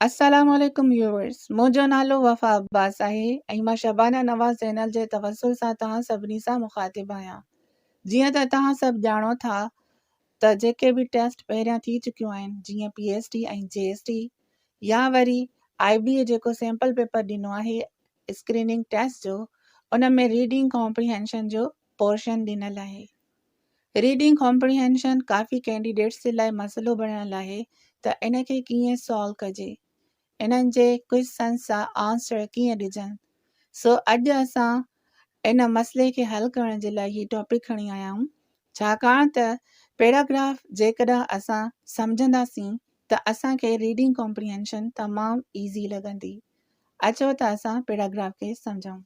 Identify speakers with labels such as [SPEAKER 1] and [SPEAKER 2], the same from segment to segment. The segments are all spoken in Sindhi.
[SPEAKER 1] السلام عليڪم ويوورس منهنجو نالو وفا عباس آهي ۽ مان شبانه نواز چينل جي توسل سان توهان سڀني سان مخاطب آهيان جيئن ته توهان سڀ ڄاڻو ٿا ته جيڪي به ٽيسٽ پهريان ٿي چڪيون آهن جيئن P S T ۽ G S T يا وري آئي بي اي جيڪو سيمپل پيپر ڏنو آهي اسڪريننگ ٽيسٽ جو ان ۾ ريڊنگ ڪامپريهينشن جو پورشن ڏنل آهي ريڊنگ ڪامپريهينشن ڪافي ڪينڊيڊيٽس جي لاء مسئلو بڻيل آهي ته ان کي ڪيئن سالو ڪجي. انهن جي ڪوئسچنز جا آنسر ڪيئن ڏجن. سو اڄ اسان ان مسئلي کي حل ڪرڻ جي لاء هي ٽاپڪ کڻي آيا آهيون. ڇاڪاڻ ته پيراگراف جيڪڏهن اسان سمجهنداسين ته اسان کي ريڊنگ ڪامپريهينشن تمام ايزي لڳندي. اچو ته اسان پيراگراف کي سمجهون.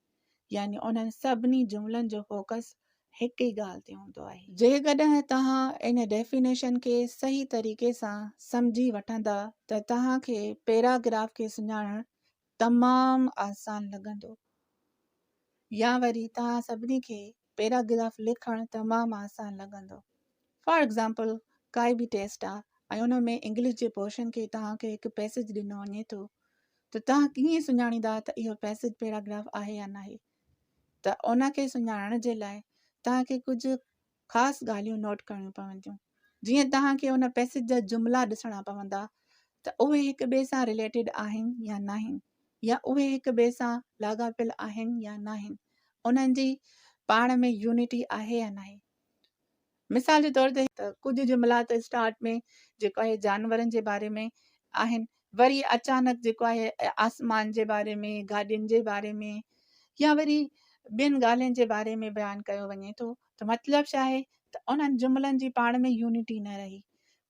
[SPEAKER 1] يعني انهن سڀني جملن جو فوڪس هڪ ئي ڳالهه تي هوندو آهي. جيڪڏهن توهان ان ڊيفينيشن کي صحيح طريقي سان سمجهي وٺندا ته توهان کي پيراگراف کي سڃاڻڻ تمام آسان لڳندو يا وري توهان سڀني کي پيراگراف لکڻ تمام آسان لڳندو. فار ايگزامپل ڪائي به ٽيسٽ آ ۽ ان ۾ انگلش جي پورشن کي توهان کي هڪ پئسيج ڏنو وڃي ٿو ته توهان ڪيئن سڃاڻيندا ته اهو پئسيج پيراگراف آهي يا ناهي ته ان کي سڃاڻڻ جي لاء توهان کي ڪجهه خاص ڳالهيون نوٽ ڪرڻيون پونديون جيئن توهان کي ان پئسيج جا جملا ڏسڻا پوندا ته اهي هڪ ٻئي سان رليٽيڊ آهن يا ناهن. يا اهي هڪ ٻئي سان لاڳاپيل آهن يا ناهن، انهن جي پاڻ ۾ يونٽي آهي يا ناهي. مثال جي طور تي ڪجهه جملا ته اسٽارٽ ۾ جيڪو آهي جانورن جي باري ۾ آهن وري اچانڪ جيڪو آهي آسمان جي باري ۾ گاڏين جي باري ۾ يا وري ٻين ڳالهين جي باري ۾ بيان ڪيو وڃي ٿو ته مطلب ڇا آهي ته انهن جملن جي پاڻ ۾ يونٽي نه رهي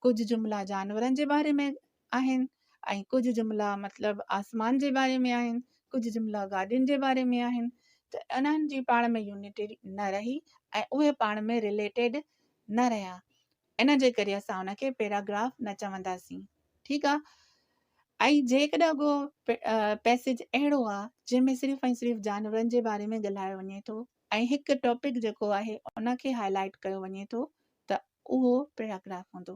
[SPEAKER 1] ڪجهه جملا جانورن جي باري ۾ آهن ۽ ڪجهه جملا مطلب آسمان جي باري ۾ آهن ڪجهه جملا گاڏين جي باري ۾ آهن ته انهن جي پاڻ ۾ يونٽي نه رهي ۽ اهي پاڻ ۾ رليٽيڊ نه رهيا ان جي ڪري اسان ان کي پيراگراف نه چونداسين ٺيڪ آهي ۽ جيڪڏهن ڪو پيسيج اهڙو آهي جنهن ۾ صرف ۽ صرف جانورن جي باري ۾ ڳالهايو وڃي ٿو ۽ هڪ ٽاپڪ جيڪو آهي ان کي هائلائٽ ڪيو وڃي ٿو ته اهو پيراگراف هوندو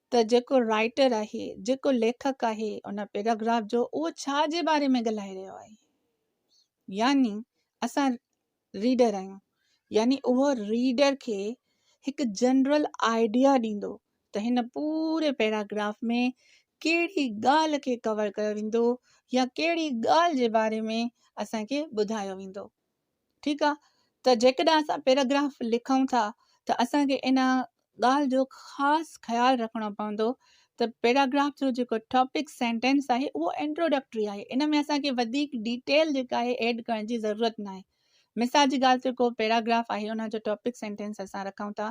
[SPEAKER 1] ته جيڪو رائٽر آهي، جيڪو ليکڪ آهي، ان پيراگراف جو اهو ڇا جي باري ۾ ڳالهائي رهيو آهي؟ يعني اسان ريڊر آهيون، يعني اهو ريڊر کي هڪ جنرل آئيڊيا ڏيندو ته هن پوري پيراگراف ۾ ڪهڙي ڳالهه کي ڪور ڪيو ويندو يا ڪهڙي ڳالهه جي باري ۾ اسان کي ٻڌايو ويندو. ٺيڪ آ ته جيڪڏهن اسان پيراگراف لکون ٿا ته اسان کي ان ڳالهه جو خاص خيال رکڻو پوندو ته پيراگراف جو جيڪو ٽاپڪ سينٽينس آهي اهو انٽروڊڪٽري آهي ان ۾ اسان کي وڌيڪ ڊيٽيل جيڪا آهي ايڊ ڪرڻ جي ضرورت ناهي مثال جي ڳالهه ته ڪو پيراگراف آهي ان جو ٽاپڪ سينٽينس اسان رکون ٿا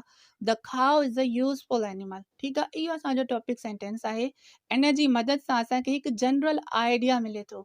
[SPEAKER 1] the cow is a useful animal ٺيڪ آهي اهو اسانجو ٽاپڪ سينٽينس آهي ان جي مدد سان اسان کي هڪ جنرل آئيڊيا ملي ٿو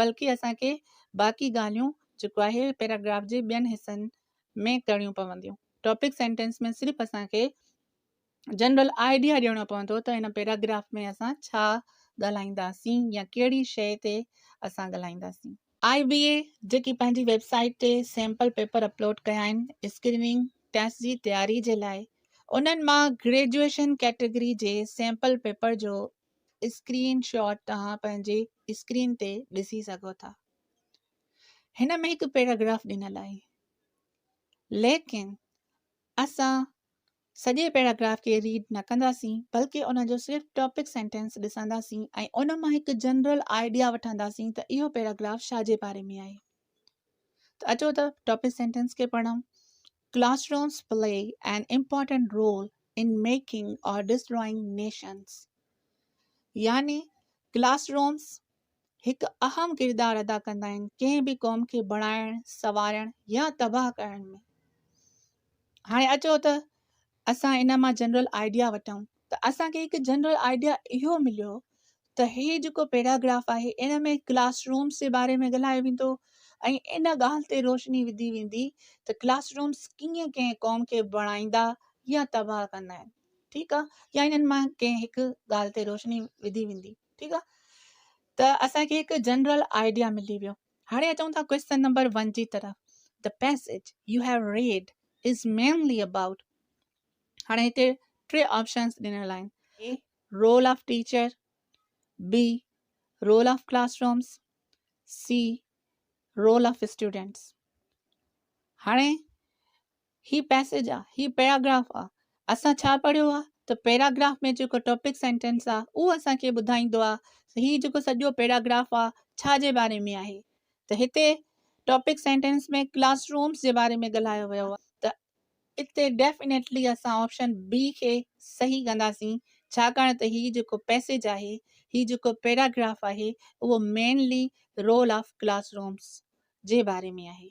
[SPEAKER 1] بلڪه اسان کي باقي ڳالهيون جيڪو آهي پيراگراف جي ٻين حصن ۾ ڪرڻيون پونديون. ٽاپڪ سينٽينس ۾ صرف اسان کي جنرل آئيڊيا ڏيڻو پوندو ته هن پيراگراف ۾ اسان ڇا ڳالهائينداسين يا ڪهڙي شيء تي اسان ڳالهائينداسين. آء بي اي جيڪي پنهنجي ويب سائيٽ تي سيمپل پيپر اپلوڊ ڪيا آهن اسڪريننگ ٽيسٽ جي تياري جي لاء انهن مان گريجوئيشن ڪيٽيگري جي سيمپل پيپر جو اسڪرين شاٽ توهان پنهنجي اسڪرين تي ڏسي سگهو ٿا هن ۾ هڪ پيراگراف ڏنل آهي ليڪن اسان سڄي پيراگراف کي ريڊ نه ڪنداسين بلڪه ان جو صرف ٽاپڪ سينٽينس ڏسنداسين ۽ ان مان هڪ جنرل آئيڊيا وٺنداسين ته اهو پيراگراف شاهه جي باري ۾ آهي ته اچو ته ٽاپڪ سينٽينس کي پڙهون classrooms play an important role in making or destroying nations يعني ڪلاس رومز هڪ اهم ڪردار ادا ڪندا آهن ڪنهن به قوم کي بڻائڻ سنوارڻ يا تباهه ڪرڻ ۾ هاڻي اچو ته اسان ان مان جنرل آئيڊيا وٺون ته اسان کي هڪ جنرل آئيڊيا اهو مليو ته هي جيڪو پيراگراف آهي ان ۾ ڪلاس رومز جي باري ۾ ڳالهايو ويندو ۽ ان ڳالهه تي روشني وڌي ويندي ته ڪلاس رومز ڪيئن ڪنهن قوم کي بڻائيندا يا تباهه ڪندا آهن ٺيڪ آهي يا انهن مان ڪنهن هڪ ڳالهه تي روشني وڌي ويندي ٺيڪ آهي ته اسان کي هڪ جنرل آئيڊيا ملي ويو هاڻي اچون ٿا ڪويسچن نمبر ون جي طرف The passage you have read is mainly about هاڻي هتي ٽي آپشنس ڏنل آهن A role of teacher B role of classrooms C role of students هاڻي هي پئسيج آ، هي پيراگراف آ، اسان ڇا پڙهيو آ ته پيراگراف ۾ جيڪو ٽاپڪ سينٽينس آ اهو اسان کي ٻڌائيندو آ ته هي جيڪو سڄو پيراگراف آ ڇا جي باري ۾ آهي ته هتي ٽاپڪ سينٽينس ۾ ڪلاس رومس جي باري ۾ ڳالهايو ويو آ ته اتي ڊيفينيٽلي اسان آپشن بي کي صحيح ڪنداسين ڇاڪاڻ ته هي جيڪو پئسيج آهي هي جيڪو پيراگراف آهي اهو mainly role of classrooms جي باري ۾ آهي.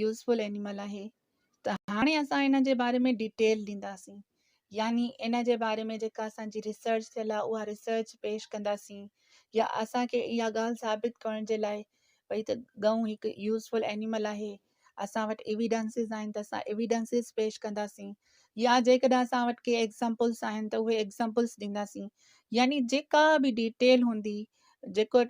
[SPEAKER 1] يوزفل اينيمل آهي ته هاڻي اسان ان جي باري ۾ ڊيٽيل ڏينداسين يعني ان جي باري ۾ جيڪا اسان جي ريسرچ ٿيل آهي اها ريسرچ پيش ڪنداسين يا اسان کي اها ڳالهه ثابت ڪرڻ جي لاء ڀئي ته ڳئون هڪ يوزفل اينيمل آهي اسان وٽ ايويڊنسز آهن ته اسان ايويڊنسز پيش ڪنداسين يا جيڪڏهن اسان وٽ ڪي ايگزامپلس آهن ته اهي ايگزامپلس ڏينداسين يعني جيڪا به ڊيٽيل هوندي جيڪو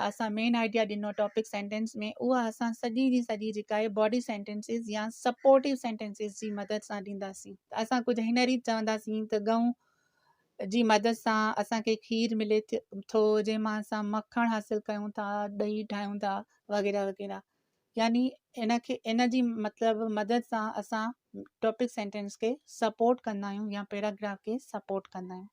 [SPEAKER 1] اسان مين آئڊيا ڏنو ٽاپڪ سينٽينس ۾ اها اسان سڄي جي سڄي جيڪا آهي باڊي سينٽينسز يا سپورٽو سينٽينسز جي مدد سان ڏينداسين اسان ڪجهه هن ريت چونداسين ته ڳئون جي مدد سان اسانکي کير ملي ٿو جنهن مان اسان مکڻ حاصل ڪيون ٿا ڏهي ٺاهيون ٿا وغيره وغيره يعني ان کي ان جي مطلب مدد سان اسان ٽاپڪ سينٽينس کي سپورٽ ڪندا آهيون يا پيراگراف کي سپورٽ ڪندا آهيون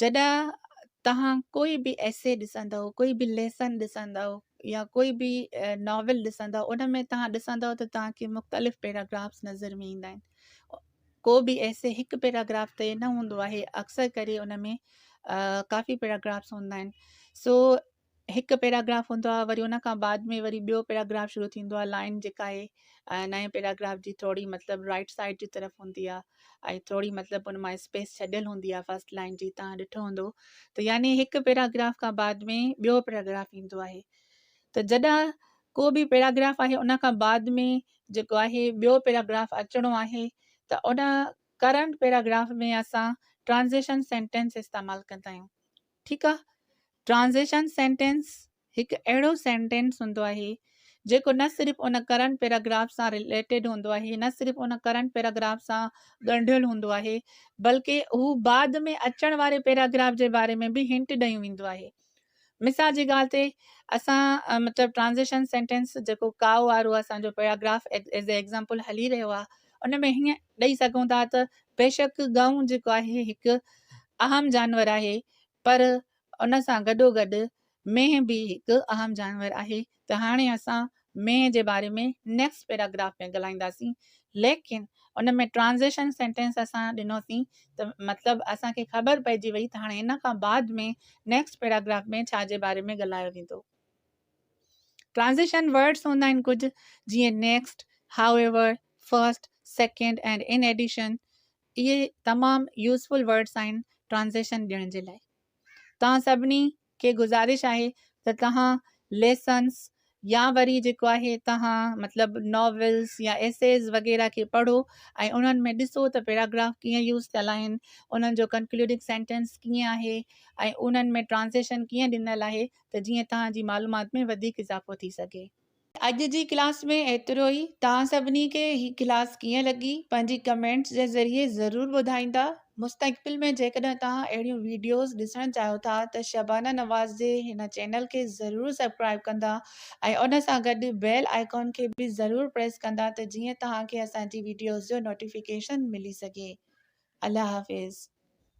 [SPEAKER 1] جڏهن توهان ڪوئي به ايسي ڏسندؤ، ڪوئي به ليسن ڏسندؤ يا ڪوئي به ناول ڏسندؤ ان ۾ توهان ڏسندؤ ته توهان کي مختلف پيراگرافس نظر ۾ ايندا آهن. ڪو به ايسي هڪ پيراگراف تي نه هوندو آهي اڪثر ڪري ان ۾ ڪافي پيراگرافس هوندا آهن سو هڪ پيراگراف هوندو آهي وري ان کان بعد ۾ وري ٻيو پيراگراف شروع ٿيندو آهي لائين جيڪا آهي نئين پيراگراف جي ٿورڙي مطلب رائٽ سائيڊ جي طرف هوندي آهي ۽ ٿورڙي مطلب ان مان اسپيس ڇڏيل هوندي آهي فرسٽ لائن جي تان ڏٺو هوندو ته يعني هڪ پيراگراف کان بعد ۾ ٻيو پيراگراف ايندو آهي ته جڏهن ڪو به پيراگراف آهي ان کان بعد ۾ جيڪو آهي ٻيو پيراگراف اچڻو آهي ته ان ڪرنٽ پيراگراف ۾ اسان ٽرانزيشن سينٽينس استعمال ڪندا آهيون ٺيڪ آ. ٽرانزيشن سينٽينس هڪ اهڙو سينٽينس هوندو آهي جيڪو نه صرف ان ڪرنٽ پيراگراف سان رليٽيڊ هوندو آهي نه صرف ان ڪرنٽ پيراگراف سان ڳنڍيل هوندو آهي بلڪه هو بعد ۾ اچڻ واري پيراگراف جي باري ۾ به هنٽ ڏيون ويندو آهي مثال جي ڳالهه تي اسان مطلب ٽرانزيشن سينٽينس جيڪو ڪاء وارو اسان جو پيراگراف ايز اي ايگزامپل هلي رهيو آهي ان ۾ هيئن ڏئي سگهون ٿا ته بيشڪ ڳئون جيڪو آهي هڪ اهم جانور آهي پر ان سان گڏوگڏ مينهن به هڪ اهم جانور آهي ته هاڻي اسان مينهن جي باري ۾ نيڪسٽ پيراگراف ۾ ڳالهائينداسين ليڪن ان ۾ ٽرانزيشن سينٽينس اسان ڏنوسين ته مطلب اسان کي خبر پئجي وئي ته هاڻي ان کان بعد ۾ نيڪسٽ پيراگراف ۾ ڇا جي باري ۾ ڳالهايو ويندو. ٽرانزيشن ورڊز هوندا آهن ڪجهه جيئن next, however, first, second ۽ in addition اهي تمام يوزفل ورڊز آهن ٽرانزيشن ڏيڻ جي لاء. توهان سڀني کي گذارش آهي ته توهان ليسنس يا وري جيڪو آهي توهان مطلب ناولز يا ايسيز وغيره کي پڙهو ۽ انهن ۾ ڏسو ته پيراگراف ڪيئن يوز ٿيل آهن، انهن جو ڪنڪلوڊنگ سينٽينس ڪيئن آهي ۽ انهن ۾ ٽرانزيشن ڪيئن ڏنل آهي. ته جيئن توهان جي معلومات ۾ وڌيڪ اضافو ٿي سگهي. اڄ جي ڪلاس ۾ ايترو ئي. توهان سڀني کي هي ڪلاس ڪيئن لڳي پنهنجي ڪمينٽس جي ذريعي ضرور ٻڌائيندا. مستقبل ۾ جيڪڏهن توهان اهڙيون ويڊيوز ڏسڻ چاهيو ٿا ته شبانه نواز جي هن چينل کي ضرور سبڪرائيب ڪندا ۽ ان سان گڏ بيل آئيڪان کي به ضرور پريس ڪندا ته جيئن توهان کي اسان جي ويڊيوز جو نوٽيفڪيشن ملي سگهي. الله حافظ.